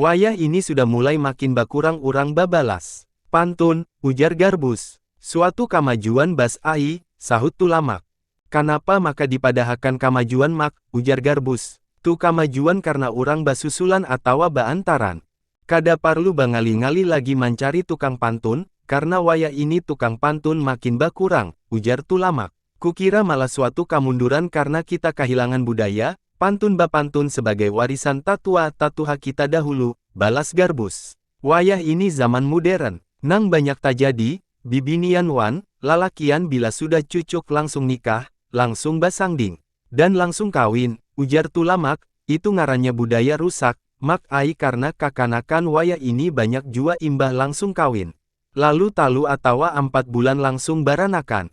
Wayah ini sudah mulai makin bakurang urang babalas. Pantun, ujar Garbus. Suatu kamajuan Bas ai, sahut Tulamak. Kanapa maka dipadahakan kamajuan Mak, ujar Garbus. Tu kamajuan karna urang basusulan atawa baantaran. Kada parlu bangali-ngali lagi mancari tukang pantun, karna wayah ini tukang pantun makin bakurang, ujar Tulamak. Kukira malah suatu kamunduran karna kita kahilangan budaya, pantun bapantun sebagai warisan tatua tatuha kita dahulu, balas Garbus. Wayah ini zaman mudern, nang banyak tajadi, bibinian wan lalakian bila sudah cucuk langsung nikah, langsung basangding, dan langsung kawin, ujar Tulamak, itu ngarannya budaya rusak, Mak ai karna kakanakan wayah ini banyak jua imbah langsung kawin, lalu talu atawa ampat bulan langsung baranakan.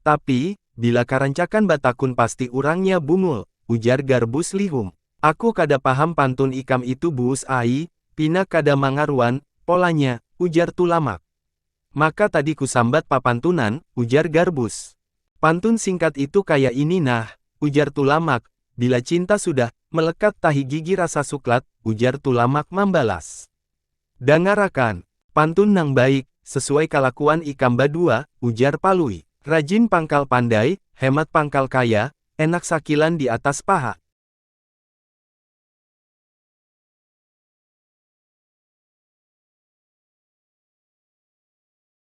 Tapi, bila karancakan batakun pasti urangnya bungul, ujar Garbus lihum. Aku kada paham pantun ikam itu Buus ai, pina kada mangaruan, polanya, ujar Tulamak. Maka tadi kusambat papantunan, ujar Garbus. Pantun singkat itu kaya ini nah, ujar Tulamak, Bila cinta sudah, melekat tahi gigi rasa suklat, ujar Tulamak mambalas. Dangarakan, pantun nang baik, sesuai kalakuan ikam badua, ujar Palui. Rajin pangkal pandai, hemat pangkal kaya, enak sakilan di atas paha.